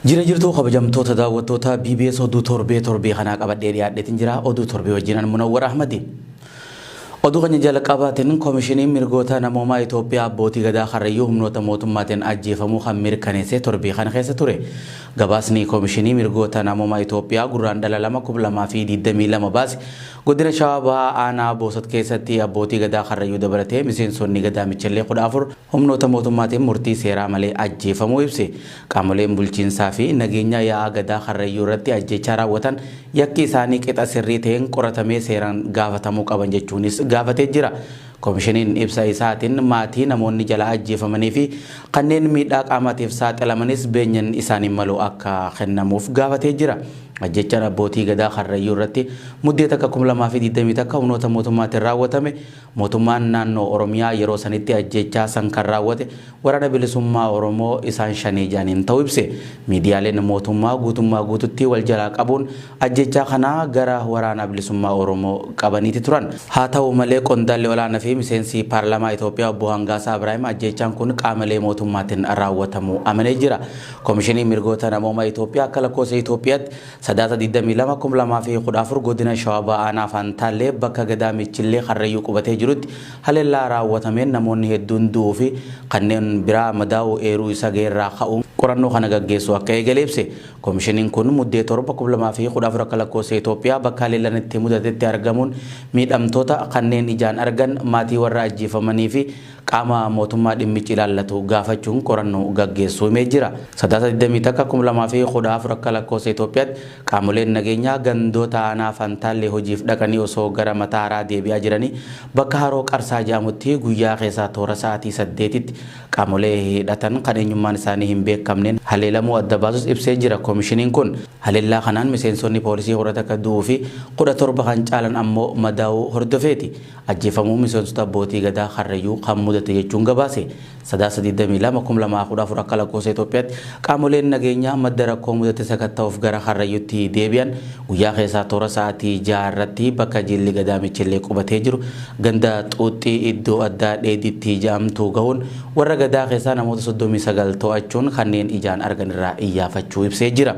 Jira jirtuu kabajamtoota daawwattoota BBS oduu torbee torbee kanaa qabadhee dhiyaadheetin jira oduu torbee wajjin an Munawwar Ahmadi. Oduu keenya jalqabaatiin koomishiniin mirgoota namoomaa Itoophiyaa abbootii gadaa karrayyuu humnoota mootummaatiin ajjeefamuu kan mirkaneesse torbee kana keessa ture. Gabaasni koomishinii mirgoota namoomaa Itoophiyaa gurraan dhala lama kuma lamaa fi digdamii lama baase godina Shawaa Bahaa aanaa Boosat keessatti abbootii gadaa karrayyuu dabalatee miseensonni gadaa michallee kudha afur Humnoota mootummaatiin murtii seeraa malee ajjeefamuu ibse. Qaamoleen bulchiinsaa fi nageenyaa yaa'aa Gadaa Karrayyuu irratti ajjeechaa raawwatan yakki isaanii qixa sirrii ta'een qoratamee seeraan gaafatamuu qaban jechuunis gaafatee jira. Komishiniin ibsa isaatiin maatii namoonni jalaa ajjeefamanii fi kanneen miidhaa qaamaatiif saaxilamanis beenyan isaaniin malu akka kennamuuf gaafatee jira. Ajjeechaan abbootii Gadaa Karrayyuu irratti Muddee 1, 2021 humnoota mootummaatiin raawwatame Mootummaan naannoo Oromiyaa yeroo sanitti ajjeechaa san kan raawwate Waraana Bilisummaa Oromoo isaan Shanee jedhaniin ta'uu ibse. Miidiyaaleen mootummaa guutummaa guututti wal jalaa qabuun ajjeechaa kana gara Waraana Bilisummaa Oromoo qabaniiti turan. Haa ta'u malee qondaalli olaana fi miseensi Paarlaamaa Itoophiyaa Obbo Hangaasaa Ibraahim ajjeechaan kun qaamelee mootummaatin raawwatamuu amanee jira. Komishiniin Mirgoota Namooma Itoophiyaa akka lakkoofsa Itoophiyaatti Sadaasa 22, 2014 Godina Shawaa Bahaa Aanaa Faantaallee bakka Gadaa Michillee Karrayyuu qubatee jirutti haleellaa raawwatameen namoonni hedduun du'uu fi kanneen biraa madaa'uu eeruu isa ga'erraa ka'uun qorannoo kana gaggeessuu akka eegale ibse. Komishiniin kun Muddee 7, 2014 akka lakkoofsa Itoophiyaa bakka haleellaan itti mudatetti argamuun miidhamtoota, kanneen ijaan argan, maatii warra ajjeefamanii fi qaama mootummaa dhimmichi ilaallatu gaafachuun qorannoo gaggeessuu himee jira. Sadaasa 21/2014 akka lakkoofsa Itoophiyaatti qaamoleen nageenyaa gandoota aanaa Fantaallee hojiif dhaqanii osoo gara Mataaraa deebi'aa jiranii bakka Haroo Qarsaa jedhamutti guyyaa keessaa toora sa'aatii 8tti qaamolee hidhatan kan eenyummaan isaanii hin beekamneen haleelamuu adda baasus ibsee jira. Komishiniin kun haleellaa kanaan miseensonni poolisii 11 du'uu fi 17 kan caalan ammoo madaa'uu hordofeeti. ajjeefamuu miseensota Abbootii Gadaa Karrayyuu kan mudate jechuun gabaase. Sadaasa 22, 2014 akka lakkoofsa Itoophiyaatti qaamoleen nageenyaa madda rakkoo mudate sakatta'uuf gara Karrayyuutti deebi'an guyyaa keessaa toora sa'aatii 6 irratti bakka jilli Gadaa Michillee qubatee jiru ganda Xuuxxii iddoo addaa Dheeditti jedhamtu gahuun warra Gadaa keessaa namoota 39 to'achuun kanneen ijaan argan irraa iyyaafachuu ibsee jira.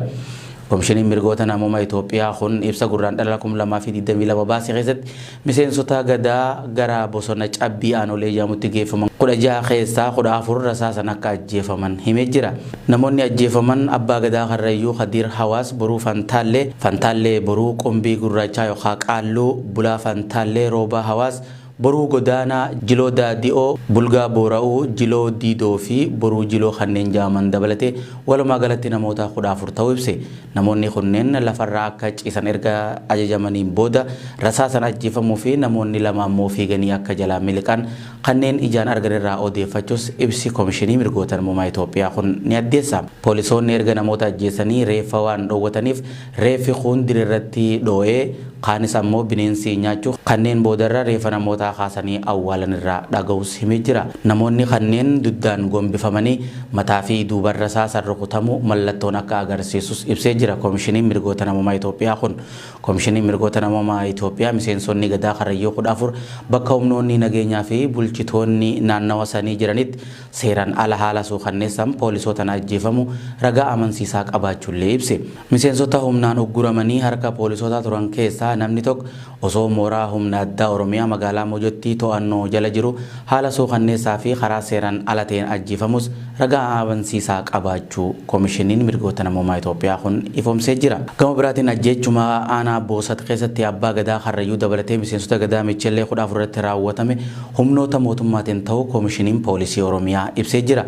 Komishiniin mirgoota namoomaa Itoophiyaa kun ibsa Gurraandhala 2022 baase keessatti Miseensota Gadaa gara bosona Cabbii Aanolee jedhamutti geeffaman 16 keessaa 14 rasaasan akka ajjeefaman himee jira. Namoonni ajjeefaman Abbaa Gadaa Karrayyuu Kadiir Hawaas Boruu Fantaallee, Fantaallee Boruu, Qumbii Gurraachaa yookaa Qaalluu, Bulaa Fantaallee, Roobaa Hawaas, Boruu Godaanaa, Jiloo Daadi'oo, Bulgaa Boora'uu, Jiloo Diidoo fi Boruu Jiloo kanneen jedhaman dabalatee walumaa galatti namoota 14 ta'uu ibse. Namoonni kunneen lafarraa akka ciisan erga ajajamaniin booda rasaasan ajjeefamuu fi namoonni lama ammoo fiiganii akka jalaa miliqan kanneen ijaan argan irraa odeeffachus ibsi Komishinii Mirgoota Namoomaa Itoophiyaa kun ni addeessa. Poolisoonni erga namoota ajjeesanii reeffa waan dhoowwataniif reeffi kuun dirirratti dhoo'ee Kaanis ammoo bineensi nyaachuuf kanneen boodarra reefa namootaa kaasanii awwaalan irraa dhaga'uus himee jira. Namoonni kanneen duddaan gombifamanii mataa fi duuba rasaasan rukutamuu mallattoon akka agarsiisus ibsee jira Komishiniin Mirgoota Namoomaa Itoophiyaa kun. Komishiniin Mirgoota Namoomaa Itoophiyaa miseensonni Gadaa Karrayyuu 14 bakka humnoonni nageenyaa fi bulchitoonni naannawa sanii jiranitti seeraan ala haala suukanneessaan poolisootaan ajjeefamuu ragaa amansiisaa qabaachuullee ibse. Miseensota humnaan ugguramanii harka poolisootaa turan keessaa namni tok osoo mooraa humna addaa Oromiyaa magaalaa Mojotti to'annoo jala jiru haala suukanneessaa fi karaa seeran ala ta'een ajjeefamuus ragaa amansiisaa qabaachuu Komishiniin Mirgoota Namoomaa Itoophiyaa kun ifoomsee jira. Gama biraatiin ajjeechuma aanaa Boosat keessatti Abbaa Gadaa Karrayyuu dabalatee miseensota Gadaa Micheellee 14 irratti raawwatame humnoota mootummaatiin ta'uu Komishiniin Poolisii Oromiyaa ibsee jira.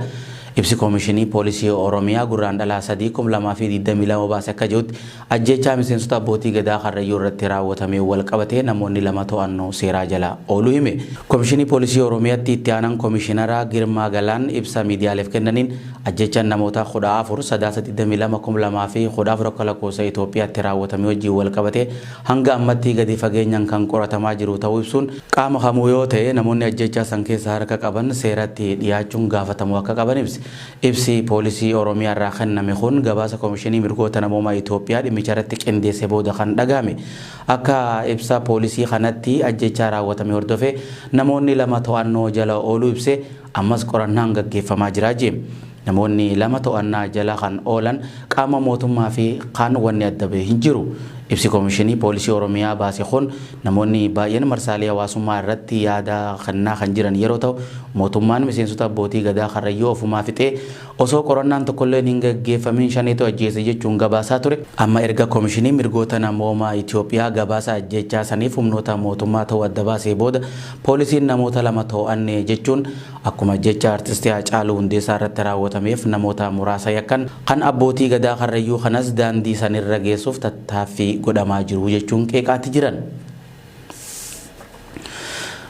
Ibsi Komishinii Poolisii Oromiyaa Gurraandhala 3, 2022 baase akka je'utti, ajjeechaa miseensota Abbootii Gadaa Karrayyuu irratti raawwatameen wal qabatee namoonni lama to'annoo seeraa jala ooluu hime. Komishinii Poolisii Oromiyatti Itti Aanan Komishinaraa Girmaa Galaan ibsa miidiyaaleef kennaniin, ajjeechaan namoota 14 Sadaasa 22, 2014 akka lakkoofsa Itoophiyaatti raawwatamee wajjiin wal qabatee hanga ammatti gadi fageenyan kan qoratamaa jiru ta'uu ibsuun, qaama kamuu yoo ta'e namoonni ajjeechaa san keessa harka qaban seeratti dhiyaachuun gaafatamuu akka qaban ibse. Ibsi poolisii Oromiyaa irraa kenname kun gabaasa Komishinii Mirgoota Namoomaa Itoophiyaa dhimmicharratti qindeesse booda kan dhagahame. Akka ibsa poolisii kanatti ajjeechaa raawwatame hordofee namoonni lama to'annoo jala ooluu ibsee, Ammas qorannaan gaggeeffamaa jira jee. Namoonni lama to'annaa jala kan oolan qaama mootummaa fi kaan wanni adda bahe hin jiru. Ibsi Komishinii Poolisii Oromiyaa baase kun namoonni baay'een marsaalee hawaasummaa irratti yaada kennaa kan jiran yeroo ta'u, mootummaan miseensota abbootii Gadaa Karrayyuu ofumaa fixee, Osoo qorannaan tokkolleen hin gaggeeffamiin Shaneetu ajjeese jechuun gabaasaa ture, amma erga Komishiniin Mirgoota Namoomaa Itoophiyaa gabaasa ajjeechaa saniif humnoota mootummaa ta'uu adda baasee booda poolisiin namoota lama too'anne jechuun akkuma ajjeechaa Artisti Haacaaluu Hundeessaa irratti raawwatameef namoota muraasa yakkan kan Abbootii Gadaa Karrayyuu kanas daandii sanirra geessuuf tattaaffii godhamaa jiru jechuun qeeqaati jiran.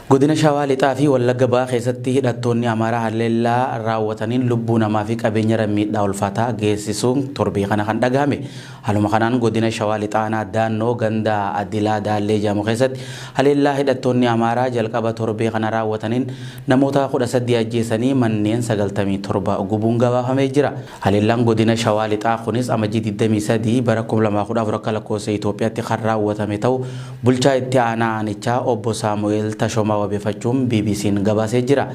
Godina Shawaa Lixaa fi Wallagga Bahaa keessatti hidhattoonni Amaaraa haleellaa raawwataniin lubbuu namaa fi qabeenyarra miidhaa ulfaataa geessisuun torbee kana kan dhagahame. Haaluma kanaan godina Shawaa Lixaa aanaa Daannoo ganda Adilaa Daallee jedhamu keessatti haleellaa hidhattoonni Amaaraa jalqaba torbee kana raawwataniin namoota 13 ajjeesanii manneen 97 gubuun gabaafamee jira. Haleellaan Godina Shawaa Lixaa kunis Amajjii 23 bara 2014 akka lakkoofsa Itoophiyaatti kan raawwatame ta'uu Bulchaa Itti Aanaa Aanichaa Obbo Saamu'eel Tashomaa wabeefachuun BBC'n gabaasee jira.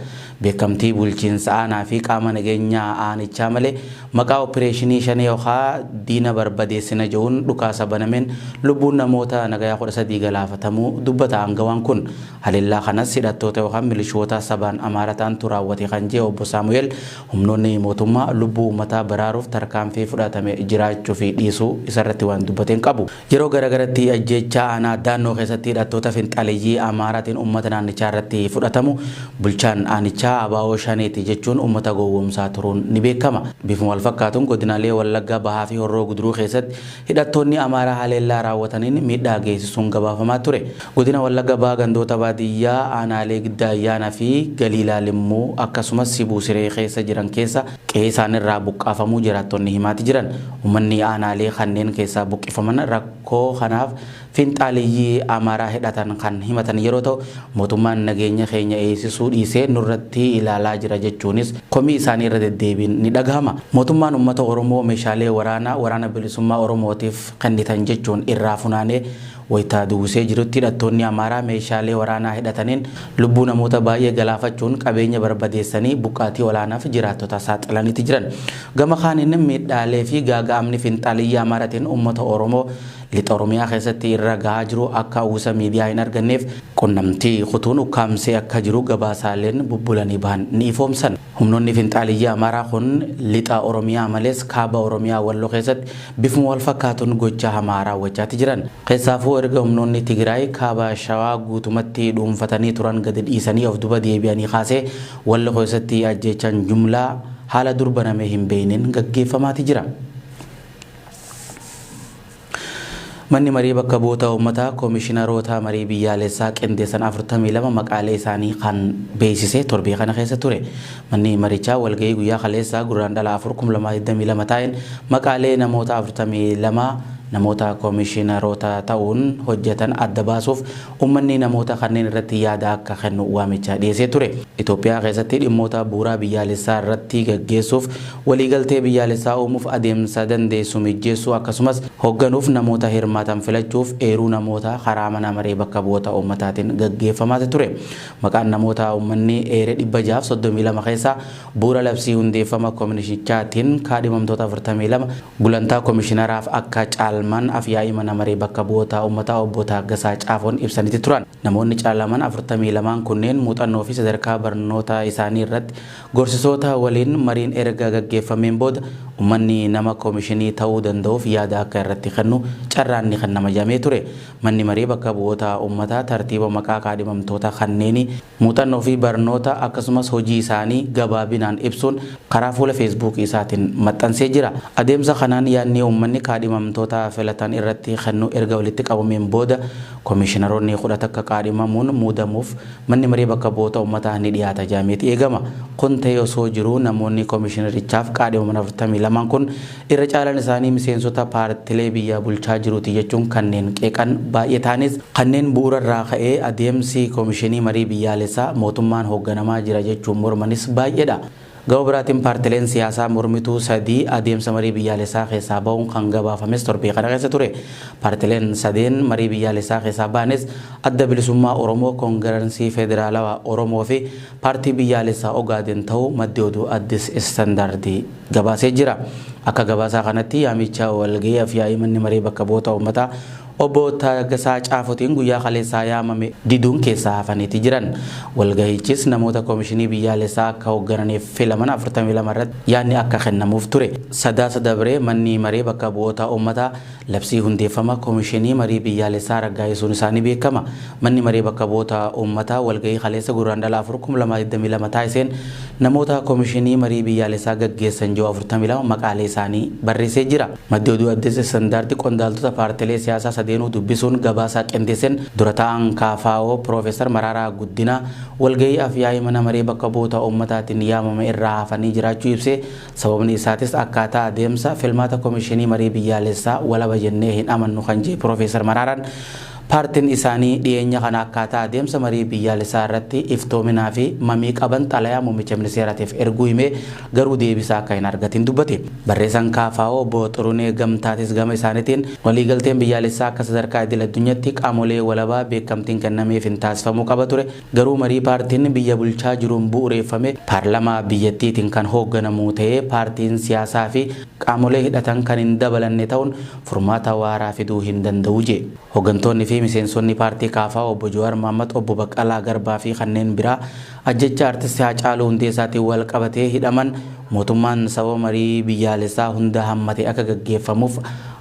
Beekamtii Bulchiinsa Aanaa fi qaama nageenyaa Aanichaa malee maqaa Oppireeshinii Shanee yookaa diina barbadeessina je'uun dhukaasa banameen lubbuun namoota nagayaa 13 galaafatamuu dubbata aangawaan kun. Haleellaa kanas hidhattoota yookaan milishoota sabaan Amaara ta'antu raawwate kan je'e Obbo Saamu'eel, Humnoonni mootummaa lubbuu uummataa baraaruuf tarkaanfii fudhatame jiraachuu fi dhiisuu isarratti waan dubbate hin qabu. Yeroo gara garatti ajjeechaa aanaa Daannoo keessatti hidhattoota finxaaleyyii Amaaraatiin uummata naannichaa irratti fudhatamu bulchaan aanichaa abo Shaneeti jechuun uummata gowwoomsaa turuun ni beekama. Bifuma wal fakkaatuun godinaalee Wallagga Bahaa fi Horroo Guduruu keessatti Hidhattoonni Amaaraa haleellaa raawwataniin miidhaa geessisuun gabaafamaa ture. Godina Wallagga Bahaa gandoota baadiyyaa aanaalee Giddaa Ayyaanaa fi Galiilaa Limmuu akkasumas Sibuu Siree keessa jiran keessa qe'ee isaanirraa buqqaafamuu jiraattonni himaati jiran. Ummanni aanaalee kanneen keessaa buqqifaman rakkoo kanaaf Finxaaleyyii Amaaraa hidhatan kan himatan yeroo ta'u, mootummaan nageenya keenya eegsisuu dhiisee nurratti ilaalaa jira jechuunis komii isaanii irra deddeebiin ni dhagahama. Mootummaan uummata Oromoo meeshaalee waraanaa Waraana Bilisummaa Oromootiif kennitan jechuun irraa funaanee wayita duwwisee jirutti hidhattoonni Amaaraa meeshaalee waraanaa hidhataniin lubbuu namoota baay'ee galaafachuun qabeenya barbadeessanii buqqaatii olaanaaf jiraattota saaxilaniiti jiran. Gama kaaniin miidhaalee fi gaaga'amni finxaaleyyii Amaaratiin uummata Oromoo Lixa Oromiyaa keessatti irra gahaa jiru akka uwwisa miidiyaa hin arganneef qunnamtii kutuun ukkaamsee akka jiru gabaasaaleen bubbulanii bahan ni ifoomsan. Humnoonni finxaaliyyii Amaaraa kun Lixa Oromiyaa malees Kaaba Oromiyaa Wallo keessatti bifuma wal fakkaatuun gochaa hamaa raawwachaati jiran. Keessaafuu erga humnoonni Tigiraay Kaaba Shawaa guutumatti dhuunfatanii turan gadi dhiisanii of duba deebi'anii kaasee Wallo keessatti ajjeechaan jumlaa haala dur banamee hin beekneen gaggeeffamaati jira. Manni Marii Bakka Bu'oota Uummataa Komishinaroota Marii Biyyaalessaa qindeessan 42 maqaalee isaanii kan beeksise torbee kana keessa ture. Manni marichaa walga'ii guyyaa kaleessaa Gurraandhala 4, 2022 taa'een maqaalee namoota 42 namoota komishinaroota ta'uun hojjetan adda baasuuf Ummanni namoota kanneen irratti yaada akka kennu waamicha dhiyeessee ture. Itoophiyaa keessatti dhimmoota bu'uuraa biyyaalessaa irratti gaggeessuuf waliigaltee biyyaalessaa uumuuf adeemsa dandeessisu mijjeessuu akkasumas hogganuuf namoota hirmaatan filachuuf eeruu namoota karaa Mana Maree Bakka Bu'oota Ummataatiin gaggeeffamaati ture. Maqaan namoota ummanni eere 632 keessaa bu'uura labsii hundeeffama komishinichaatiin kaadhimamtoota 42 Gulantaa Komishinaraaf akka caalman Afyaa'ii Mana Maree Bakka Bu'ootaa Ummataa Obbo Taaggasaa Caafoon ibsaniti turan. Namoonni caalaman 42n kunneen muuxannoo fi sadarkaa barnoota isaanii irratti gorsisoota waliin mariin erga gaggeeffameen booda ummanni nama komishinii ta'uu danda'uuf yaada akka irratti kennu carraan ni kennama jedhamee ture. Manni Maree Bakka Bu'oota Ummataa tartiiba maqaa kaadhimamtoota kanneenii, muuxannoo fi barnoota akkasumas hojii isaanii gabaabinaan ibsuun karaa fuula Feesbuukii isaatiin maxxansee jira. Adeemsa kanaan yaadni ummanni kaadhimamtoota filatan irratti kennu erga walitti qabameen booda Komiishinaroonni 11 kaadhimamuun muudamuuf Manni Maree Bakka Bu'oota Ummataa ni dhiyaata jedhameeti eegama. Kun ta'ee osoo jiruu namoonni Komiishinarichaaf kaadhimaman 42n kun Irra caalaan isaanii miseensota paartilee biyya bulchaa jiruuti jechuun kanneen qeeqan baay'ee ta'anis, kanneen bu'uura irraa ka'ee adeemsi Komishinii Marii Biyyaalessaa mootummaan hoogganamaa jira jechuun mormanis baay'eedha. Gama biraatiin paartileen siyaasaa mormituu sadii adeemsa marii biyyaalessaa keessaa ba'uun kan gabaafames torbee kana keessa ture. Paartileen sadeen marii biyyaalessaa keessaa ba'anis Adda Bilisummaa Oromoo, Kongiransii Federaalawaa Oromoo fi Paartii Biyyaalessaa Ogaaden ta'uu maddi oduu Addis Istandaardi gabaasee jira. Akka gabaasaa kanatti yaamicha walgahii afyaa'ii manni maree bakka bu'oota uummataa obbo Taaggasaa Caafotiin guyyaa kaleessaa yaamame diduun keessaa hafaniiti jiran. Walgahichis namoota komishinii biyyaalessaa akka hoggananiif filaman 42 irratti yaadni akka kennamuuf ture. Sadaasa dabre manni maree bakka bu'oota uummataa Labsii hundeeffama Komishinii Marii Biyyaalessaa raggaa'isuun isaa ni beekama. Manni Maree Bakka Bu'oota Uummataa walga'ii kaleessa Gurraandhala 4, 2022 taasiseen namoota Komishinii Marii Biyyaalessaa gaggeessan ji'oo 42 maqaalee isaanii barreessee jira. Maddi Oduu Addis Standard qondaaltota paartilee siyaasaa sadeenuu dubbisuun gabaasa qindeesseen Dura Taa'aan KFO Piroofeesar Maraaraa Guddinaa walga'ii Af-yaa'ii Mana Maree Bakka Bu'oota Uummataatiin yaamame irraa hafanii jiraachuu ibsee, Sababni isaatis akkaataa adeemsa filmaata Komishinii Marii Biyyaalessaa walaba jennee hin amannu kan jee Pirofeesar Maraaraan, paartin isaanii dhiyeenya kana akkaataa adeemsa marii biyyaalessaa irratti iftoominaa fi mamii qaban xalayaa muummicha ministeeraatiif erguu himee garuu deebisaa akka hin argatin dubbate. Barreesan KFO Obbo Xurunee Gamtaatis gama isaanitiin waliigalteen biyyaalessaa akka sadarkaa idil-addunyatti qaamolee walabaa beekamtiin kennameefin taasifamuu qaba ture, Garuu marii paartiin biyya bulchaa jiruun bu'ureeffame paarlamaa biyyattiitiin kan hoogganamu ta'ee paartiin siyaasaa fi qaamolee hidhatan kan hin dabalanne ta'uun furmaata waaraa fiduu hin danda'u jee. Hoggantoonni fi miseensonni paartii KFO Obbo Jawaar Mohammad, Obbo Baqqalaa Garbaa fi kanneen biraa ajjeechaa Artisti Haacaaluu Hundeessaatiin wal qabatee hidhaman mootummaan sababa marii biyyaalessaa hunda hammate akka gaggeeffamuuf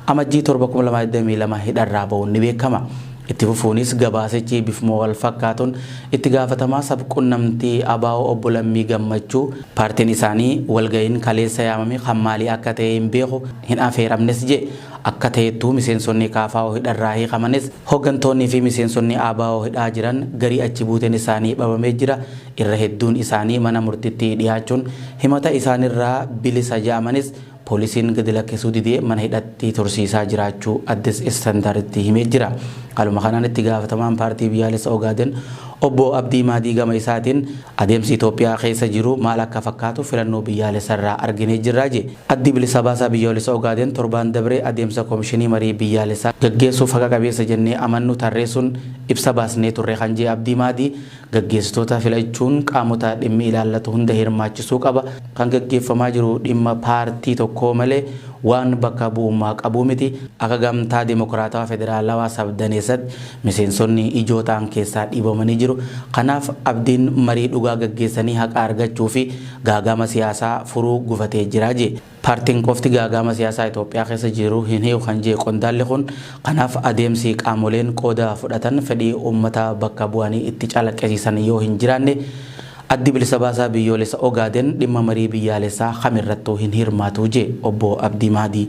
Amajjii 7, 2022 hidharraa ba'uun ni beekama. Itti fufuunis gabaasichi bifuma walfakkaatuun itti gaafatamaa sab-qunnamtii abo Obbo Lammii Gammachuu paartiin isaanii walga'iin kaleessa yaamame kan maalii akka ta'e hin beeku, hin afeeramnes jedhe. Akka ta'ettuu miseensonni KFO hidharraa hiikamanis hoggantoonnii fi miseensonni abo hidhaa jiran garii achi buuteen isaanii bhabamee jira, irra hedduun isaanii mana murtitti dhiyaachuun himata isaanirraa bilisa jedhamanis, Poolisiin gadi lakkisuu didee mana hidhatti tursiisaa jiraachuu Addis Standarditti himee jira. Haaluma kanaan itti gaafatamaan Paartii Biyyaalessa Ogaaden Obbo Abdii Maadii gama isaatiin adeemsi Itoophiyaa keessa jiru maal akka fakkaatu filannoo biyyaalessarraa arginee jirra jedhe. Addi Bilisa Baasaa Biyyoolessa Ogaaden torbaan dabre adeemsa Komishinii Marii Biyyaalessaa gaggeessuuf haqa qabeessa jennee amannu tarreessuun ibsa baasnee turre kan jedhe Abdii Maadii, Gaggeessitoota filachuun qaamota dhimmi ilaallatu hunda hirmaachisuu qaba. Kan gaggeeffamaa jiru dhimma paartii tokkoo malee waan bakka bu'ummaa qabuu miti. Akka Gamtaa Demokraatawaa Federaalawaa Sabdaneessatti miseensonni ijoo ta'an keessaa dhiibamanii jiru. Kanaaf abdiin marii dhugaa gaggeessanii haqa argachuu fi gaaga'ama siyaasaa furuu gufatee jira, jee. Paartiin qofti gaaga'ama siyaasaa Itoophiyaa keessa jiru hin hiiku kan jee qondaalli kun, kanaaf adeemsi qaamoleen qooda fudhatan fedhii uummata bakka bu'anii itti calaqqisiisan yoo hin jiraanne Addi Bilisa Baasaa Biyyoolessa Ogaaden dhimma marii biyyaalessaa kamirrattuu hin hirmaatu jee Obbo Abdii Mahdii.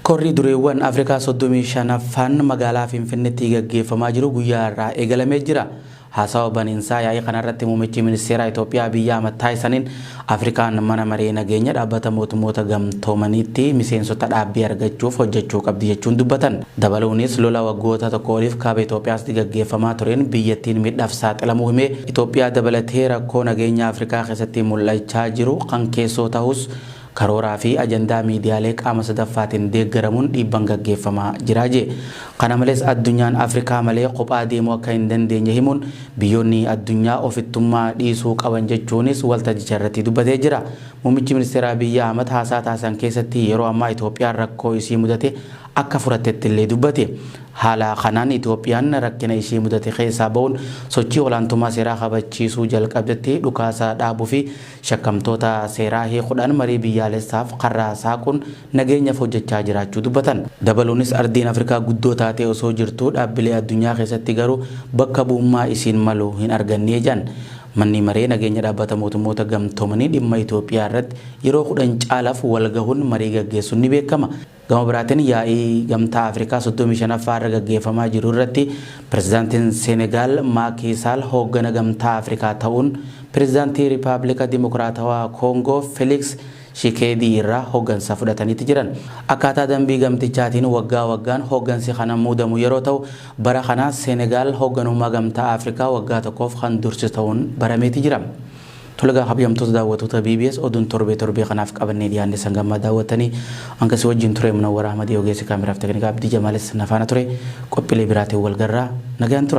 Korri dureewwan Afrikaa 35ffaan magaalaa Finfinnetti gaggeeffamaa jiru guyyaa har'aa eegalamee jira. Haasawa baniinsaa yaa'ii kanarratti Muummichi Ministeeraa Itoophiyaa Abiyyi Ahmad taasisaniin, Afrikaan Mana Maree Nageenya Dhaabbata Mootummoota Gamtoomaniitti miseensota dhaabbii argachuuf hojjechuu qabdi jechuun dubbatan. Dabaluunis lola waggoota tokkoo oliif Kaaba Itoophiyaastti gaggeeffamaa tureen biyyattiin miidhaaf saaxilamuu himee, Itoophiyaa dabalatee rakkoo nageenyaa Afrikaa keessatti mul'achaa jiru kan keessoo tahus, Karooraa fi ajandaa miidiyaalee qaama sadaffaatiin deeggaramuun dhiibban gaggeeffamaa jira jee. Kana malees addunyaan Afrikaa malee kophaa deemuu akka hin dandeenye himuun biyyoonni addunyaa ofittummaa dhiisuu qaban jechuunis waltajjicha irratti dubbatee jira. Muummichi ministeeraa Abiy Ahmad haasaa taasisan keessatti yeroo ammaa Itoophiyaan rakkoo isii mudate akka furattetti illee dubbate. Haala kanaan Itoophiyaan rakkina ishii mudate keessaa ba'uun sochii olaantummaa seeraa kabachiisuu jalqabdetti dhukaasa dhaabuu fi Shakkamtoota seeraa hiikuudhaan marii biyyaalessaaf karraa saaquun nageenyaf hojjechaa jiraachuu dubbatan. Dabaluunis ardiin Afrikaa guddoo taatee osoo jirtuu dhaabbilee addunyaa keessatti garuu bakka bu'ummaa isiin malu hin argannee jedhan. Manni maree nageenya dhaabbata mootummoota gamtoomanii dhimma Itoophiyaa irratti yeroo 10 caalaf wal gahuun marii gaggeessun ni beekama. Gama biraatiin yaa'ii Gamtaa Afrikaa 35ffaa irra gaggeeffamaa jiru irratti Pirezidaantiin Seenegaal Maakii Saal hooggana Gamtaa Afrikaa ta'uun Pirezidaantii Ripaablika Dimokiraatawaa Koongoo Feliks Shikeedii irraa hooggansa fudhataniiti jiran. Akkaataa dambii gamtichaatiin waggaa waggaan hooggansi kana muudamu yeroo ta'u, bara kana Seenegaal hoogganummaa Gamtaa Afrikaa waggaa tokkoof kan dursitu ta'uun barameeti jira. Tole egaa kabjamtoota daawwatoota BBS oduun torbee torbee kanaaf qabannee dhiyaanne san gammaa daawwattanii hanga si wajjin ture Munawwar Ahmadi ogeessi kaameraaf teknikaa Abdii Jamaalis na faana ture qophiilee biraatiin wal garraa nagaan tura.